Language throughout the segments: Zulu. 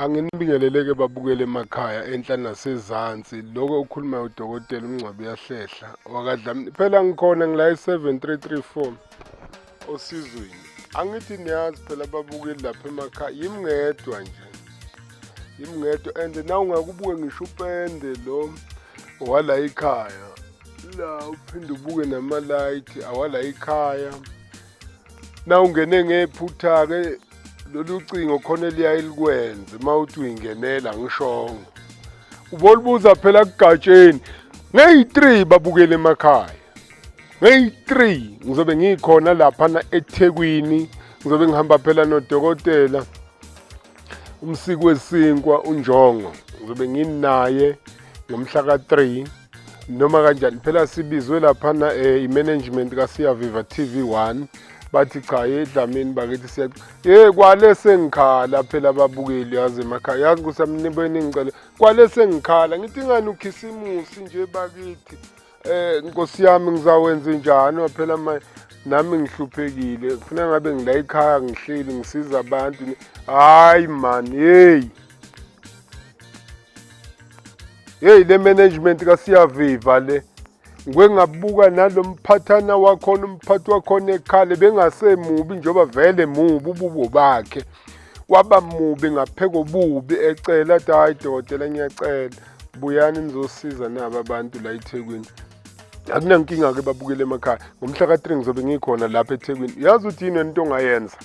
Anginibingeleleke babukele emakhaya enhla nasezansi lokho okukhulumayo udokotela umngcwabi uyahlehla wakadlamini phela ngikhona ngila i-seven three three four osizweni angithi niyazi phela babukeli lapha emakhaya yimi ngedwa nje yimi ngedwa and na ungakubuke ngisho upende lo wala ikhaya la uphinde ubuke namalayithi awala ikhaya nawungene ngephutha-ke lolu cingo khona eliyaye likwenze uma uthi uyingenela ngishongo ubolubuza phela kugatsheni ngeyi-three babukele emakhaya ngeyi-three ngizobe ngikhona laphana ethekwini ngizobe ngihamba phela nodokotela umsiki wesinkwa unjongo ngizobe nginaye ngomhla ka-three noma kanjani phela sibizwe laphana um i-management kasiyaviva TV one bathi cha ye dlamini bakithi siya ye kwale sengikhala phela ababukeli yazi emakhaya yazi ukuthi amnibeni ngicela kwale sengikhala ngithi ngani ukhisimusi nje bakithi eh nkosi yami ngizawenza njani phela manje nami ngihluphekile kufuna ngabe ngila ekhaya ngihleli ngisiza abantu hayi man hey Hey le management kasiyaviva le. Ngwe ngabuka nalomphathana wakhona umphathi wakhona ekhale bengasemubi njoba vele mubi ububo bakhe. Waba mubi ngapheko bubi ecela athi hayi dokotela ngiyacela buyani nizosiza naba abantu la eThekwini. Akunankinga ke babukele emakhaya. Ngomhla ka-3 ngizobe ngikhona lapha eThekwini. Yazi uthi yini into ongayenza?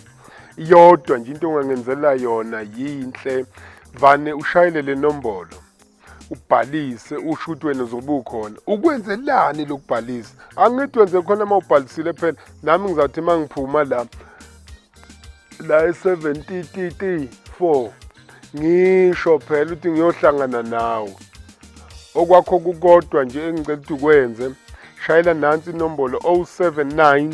iyodwa nje into ongangenzela yona yinhle vane ushayele le nombolo ubhalise usho ukuthi wena uzobe ukhona ukwenzelani lokubhalisa angithi wenze khona uma ubhalisile phela nami ngizawuthi uma ngiphuma la la e-7 4 ngisho phela ukuthi ngiyohlangana nawe okwakho kukodwa nje engicela ukuthi ukwenze shayela nansi inombolo 079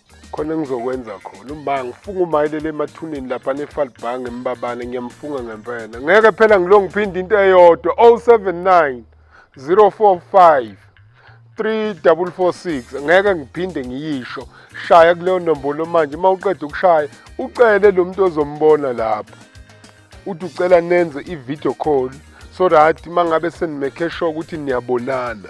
khona engizokwenza khona uma ngifunga umayelele emathuneni lapha nefalibhange embabane ngiyamfunga ngempela ngeke phela ngilo ngiphinde into eyodwa 079 045 3446 ngeke ngiphinde ngiyisho shaya kuleyo nombolo manje uma uqeda ukushaya ucele lo muntu ozombona lapho uthi ucela nenze i-video call so that uma ngabe senimekhe sure ukuthi niyabonana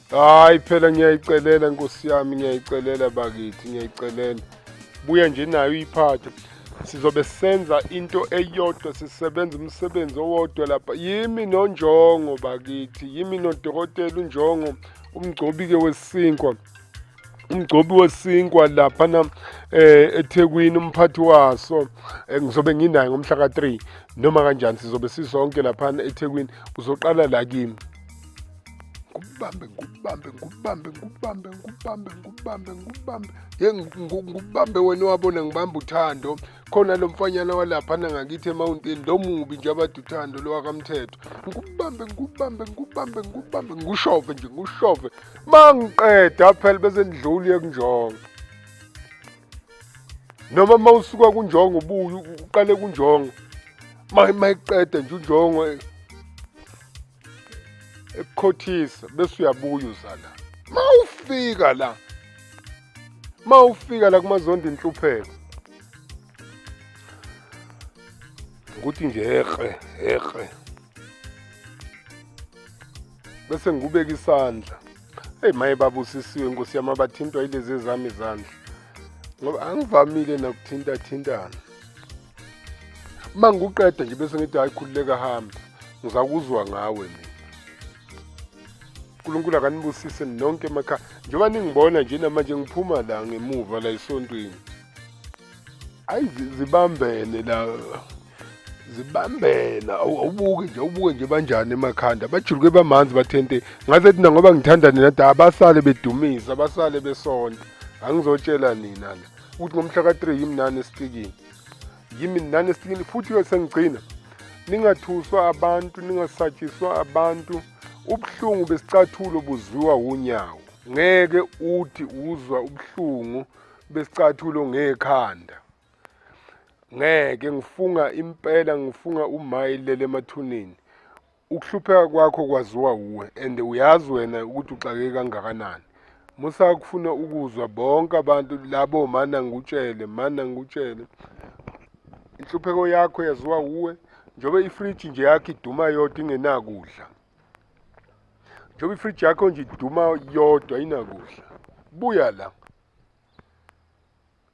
hayi phela ngiyayicelela nkosi yami ngiyayicelela bakithi ngiyayicelela buya nje nayo iphathe sizobe senza into eyodwa sisebenza umsebenzi owodwa lapha yimi nonjongo bakithi yimi nodokotela unjongo umgcobi-ke wesinkwa umgcobi wesinkwa lapha na eh eThekwini umphathi waso eh, ngizobe nginaye ngomhla ka3 noma kanjani sizobe sisonke lapha eThekwini uzoqala la kimi ngubambe ngubambe ngubambe ngubambe ngubambe ngubambe ngubambe ye ngubambe wena wabona ngibamba uthando khona lo mfanyana walaphana ngakithi emawuntini lo mubi nje abade uthando lo wakamthetho ngubambe ngubambe ngubambe ngubambe ngushove nje ngushove ma ngiqeda phela bese ndidluli ekunjongo noma ma usuka kunjongo ubuye uqale kunjongo ma mayiqeda nje unjongo ekukhothisa bese uyabuya uzala mawufika la mawufika la kumazondi inhlupheko ukuthi nje ehe ehe bese ngikubeka isandla eyi maye babusisiwe nkosi yami abathintwa yilezi ezami izandla ngoba angivamile nakuthintathintana uma ngikuqeda nje bese ngithi hayi khululeka hamba ngizakuzwa ngawe mina uNkulunkulu akanibusise nonke emakhaya njengoba ningibona nje namanje ngiphuma la ngemuva la esontweni ayi zibambene la zibambena awubuke nje awubuke nje banjani emakhanda bajuluke bamanzi bathente ngaze thina ngoba ngithanda nina da abasale bedumisa abasale besonta angizotshela nina la ukuthi ngomhla ka-3 yimi nani esitikini yimi nani esitikini futhi-ke sengigcina ningathuswa abantu ningasatshiswa abantu ubuhlungu besicathulo buzwiwa wunyawo ngeke uthi uzwa ubuhlungu besicathulo ngekhanda ngeke ngifunga impela ngifunga umayilele emathuneni Ukuhlupheka kwakho kwaziwa wuwe and uyazi wena ukuthi uxakeke kangakanani. Musa kufuna ukuzwa bonke abantu labo mana ngikutshele, mana ngikutshele. Inhlupheko yakho yaziwa wuwe njengoba ifridge nje yakho iduma yodwa ingenakudla. Njengoba ifridge yakho nje iduma yodwa inakudla. Buya la.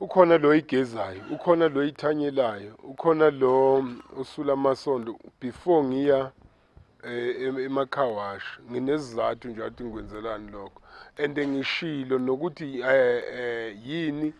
ukhona lo igezayo ukhona lo ithanyelayo ukhona lo usula amasondo before ngiya eh, emakhawashi nginezizathu nje athi ngikwenzelani lokho and ngishilo nokuthi eh, eh, yini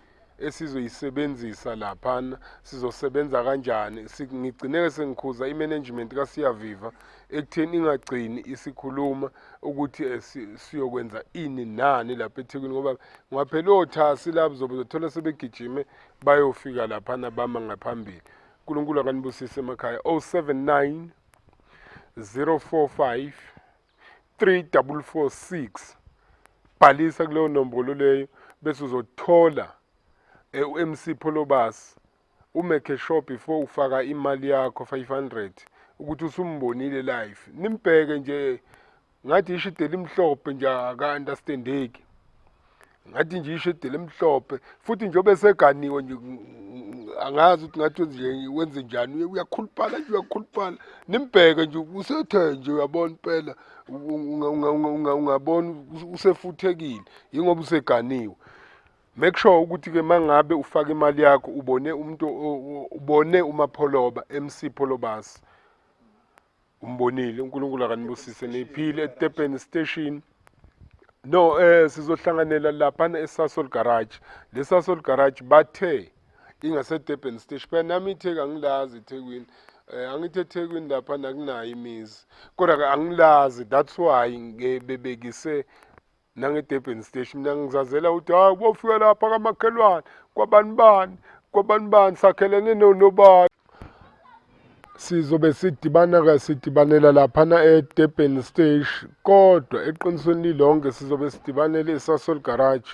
esizoyisebenzisa laphana sizosebenza kanjani ngigcineke sengikhuza i-management kasiyaviva ekutheni ingagcini isikhuluma ukuthi eh, siyokwenza ini nani lapha ethekwini ngoba ngaphela othasi lapho zobe zothola sebegijime bayofika laphana bama ngaphambili unkulunkulu akanibusise emakhaya 079 045 3446 bhalisa kuleyo nombolo leyo bese uzothola eh, u-mc pholobasi u make sure before ufaka imali yakho 500 ukuthi usumbonile live nimbheke nje ngathi isho ideli mhlophe nje aka understandeki ngathi nje isho ideli mhlophe futhi nje obeseganiwe nje angazi ukuthi ngathi nje wenze njani uyakhuluphala nje uyakhuluphala nimbheke nje usethe nje uyabona impela ungabona usefuthekile yingoba useganiwe Make sure ukuthi ke mangabe ufaka imali yakho ubone umuntu ubone umapholoba MC Pholobasi umbonile uNkulunkulu akanibusise niphile eTurban station no eh sizohlanganela lapha eSasol garage leSasol garage bathe ingaseDurban station phela nami itheka ngilazi eThekwini eh angithi eThekwini lapha nakunayo imizi kodwa angilazi that's why ngebebekise nange-durban stage mina ngizazela ukuthi hayi uba ufika lapha kamakhelwane kwabani bani kwabani bani sakhelene nonobani sizobe sidibana-ke sidibanela laphana e-durban stage kodwa eqinisweni lilonke sizobe sidibanele esasol garage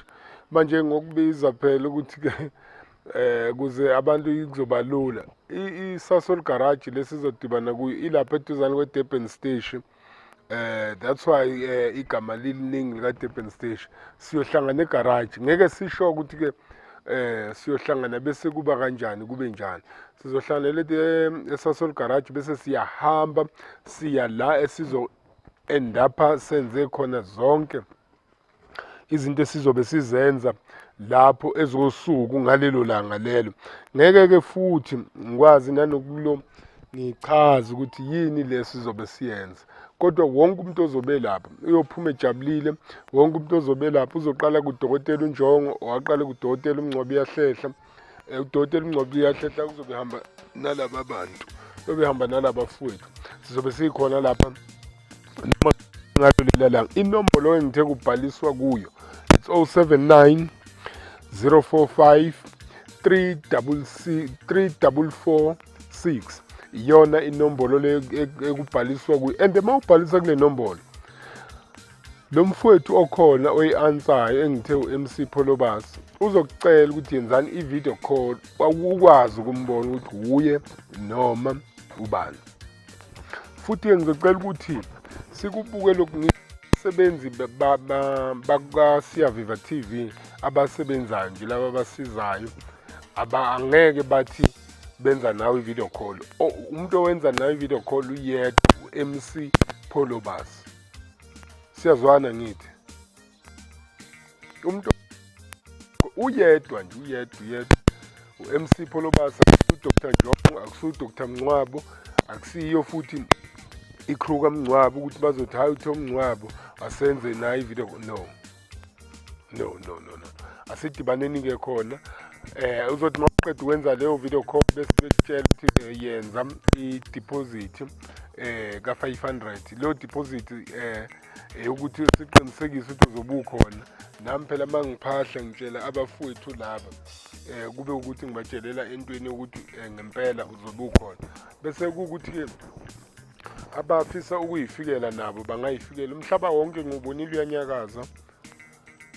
manje ngokubiza phela ukuthi-ke eh kuze abantu kuzoba lula isasol garage lesizodibana kuyo ilapha eduzane kwe-durban station eh that's why eh, igama liliningi lika Durban Station siyohlangana egarage ngeke sisho ukuthi ke eh siyohlangana bese kuba kanjani kube njani sizohlanganela eh, esasol garage bese siyahamba siya la esizo endapha senze khona zonke izinto esizobe sizenza lapho ezosuku ngalelo langa lelo ngeke-ke futhi ngikwazi nanokulo ngichaze ukuthi yini le sizobe siyenza kodwa wonke umuntu ozobe lapha uyophuma ejabulile wonke umuntu ozobe lapha uzoqala kudokotela unjongo owaqale kudokotela umngcwabi yahlehla Eh, udoti elingcwabe liyahletha kuzobe hamba nalaba bantu yobe hamba nalaba fowethu sizobe sikhona lapha noma ngalo lela langa inombolo engithe kubhaliswa kuyo it's 079 045 344 6 iyona inombolo le e-, ekubhaliswa kuyo and uma ubhalisa kule nombolo Lo mfowethu okhona oyi-ansayo engithe u-MC Pholobasi uzokucela ukuthi yenzani i-video call ukwazi ukumbona ukuthi wuye noma ubani. Futhi-ke ngizocela ukuthi sikubuke lokhu abasebenzi bakasiyaviva t v abasebenzayo nje laba abasizayo angeke bathi benza nawe i-video call umuntu owenza nawe i-video call uyedwa u-mc pholobas siyazwana ngithi umuntu uyedwa nje uyedwa uyedwa u-mc pholobasa udr jong akusudr mncwabo akusiyo futhi i-crew kamncwabo ukuthi bazothi hayi uthe umncwabo asenze nayo ivideo no no no no no asidibaneni ke khona eh uzothi maqeda ukwenza leyo video call bese betshela ukuthi eh, yenza i-deposit eh ka-500 leyo deposit eh eyokuthi siqinisekise ukuthi uzobe ukhona nami phela uma ngiphahla ngitshela abafowethu laba eh kube ukuthi ngibatshelela entweni ukuthi eh, ngempela uzobe ukhona bese kuwukuthi-ke abafisa ukuyifikela nabo bangayifikela umhlaba wonke ngubonile uyanyakaza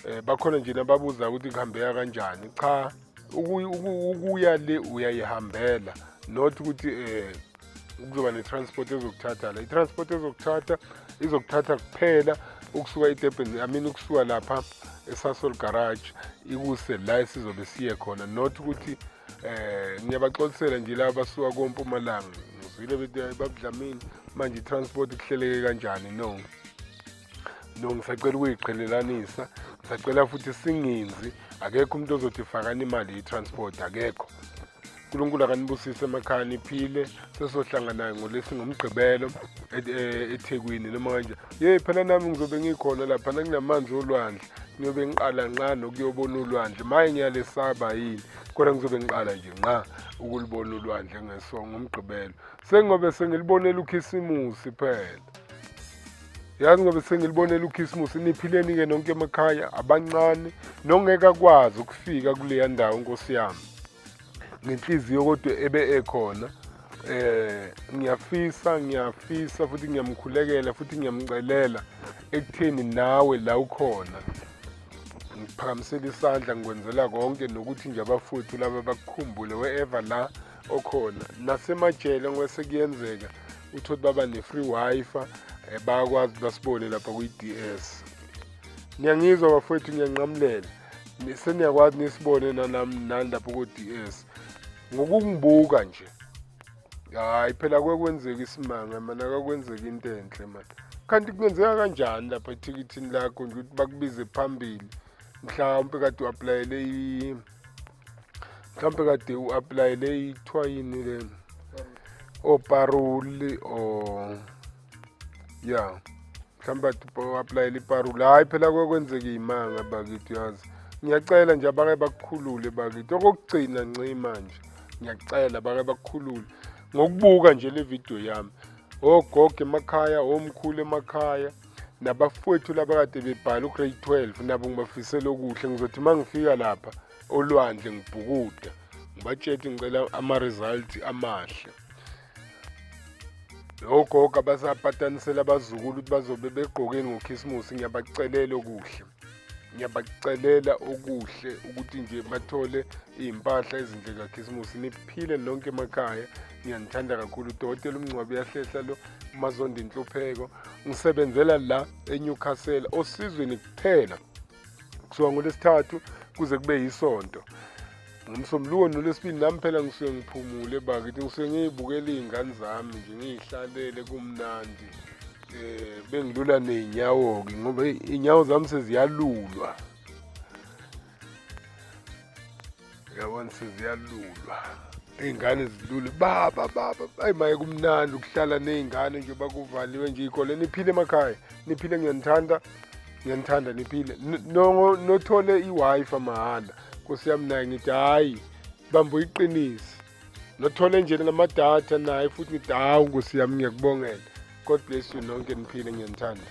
eh bakhona nje nababuza ukuthi kuhambeka kanjani cha ukuya le uyayihambela not ukuthi eh kuzoba ne-transport ezokuthatha la i-transport ezokuthatha izokuthatha kuphela ukusuka edurban i mean ukusuka lapha esasol garage ikuse la esizobe siye khona not ukuthi Eh ngiyabaxolisela nje laba basuka kompumalanga. Ngizwile bethi babudlamini manje itransport kuhleleke kanjani no. No ngisacela ukuyiqhelelanisa. Ngisacela futhi singinzi akekho umuntu ozothi fakani imali yetransport akekho. uNkulunkulu akanibusise emakhaya niphile sesohlangana ngolesi ngomgqibelo e-, e-, eThekwini noma kanje yey phela nami ngizobe ngikhona lapha nakunamanzi olwandle ngiyobe ngiqala nqa nokuyobona ulwandle maye ngiyalesaba yini kodwa ngizobe ngiqala nje nqa ukulibona ulwandle ngesongo umgqibelo sengobe sengilibonela ukhisimusi phela yazi ngobe sengilibonela ukhisimusi niphileni-ke nonke emakhaya abancane nongeke akwazi ukufika kuleya ndawo nkosi yami ngenhliziyo kodwa ebe ekhona eh ngiyafisa ngiyafisa futhi ngiyamkhulekela futhi ngiyamcelela ekutheni nawe la ukhona ngiphakamisela isandla ngikwenzela konke nokuthi nje abafowethu laba bakukhumbule wherever la okhona nasemajele ngoba sekuyenzeka uthi ukuthi baba ne-free wifi eh, bayakwazi basibone lapha kwi-d s niyangizwa bafowethu ngiyanqamulela seniyakwazi nisibone nanami nani lapho ko-ds ngokungibuka nje hayi phela kwekwenzeka isimanga mana kakwenzeka into enhle mani kanti kungenzeka kanjani lapha ethikithini lakho nje ukuthi bakubize phambili mhlawumpe kade u-aplayele mhlawumpe kade u-aplayele ithiwa yini le oparoli or ya mhlawumbe aplayela iparula hhayi phela kwekwenzeka iy'manga bakithi yazi ngiyacela nje abake bakukhulule bakithi okokugcina nci manje ngiyacela bake bakukhulule ngokubuka nje le vidiyo yami ogogo emakhaya omkhulu emakhaya nabafowethu labakade bebhala ugrade 12 nabo ngibafisela okuhle ngizothi uma ngifika lapha olwandle ngibhukuda ngibatshele ngicela ama-result amahle ogogo abasapatanisela abazukulu ukuthi bazobe begqokeni ngokhisimusi ngiyabacelela okuhle ngiyabacelela okuhle ukuthi nje bathole iy'mpahla ezinhle kakhisimusi niphile lonke emakhaya ngiyanithanda kakhulu udokotela umngcwabi uyahlehla lo umazonda inhlupheko ngisebenzela la enewcastle osizweni kuphela kusuka ngolesithathu kuze kube yisonto ngomsombuluko nolwesibili nami phela ngisuke ngiphumule bakithi ngisuke ngiyibukela iy'ngane zami nje ngiyihlalele kumnandi eh bengilula nezinyawo-ke ngoba inyawo zami seziyalulwa Yabona seziyalulwa. Izingane zilule baba baba ayi maye kumnandi ukuhlala nezingane nje bakuvaliwe nje ikole niphile emakhaya niphile ngiyanithanda ngiyanithanda niphile no nothole iWiFi mahhala Nkosi yami naye ngithi hayi bambo iqinisi nothole nje lama data naye futhi ngithi hawu Nkosi yami ngiyakubongela God bless you nonke niphile ngiyanithanda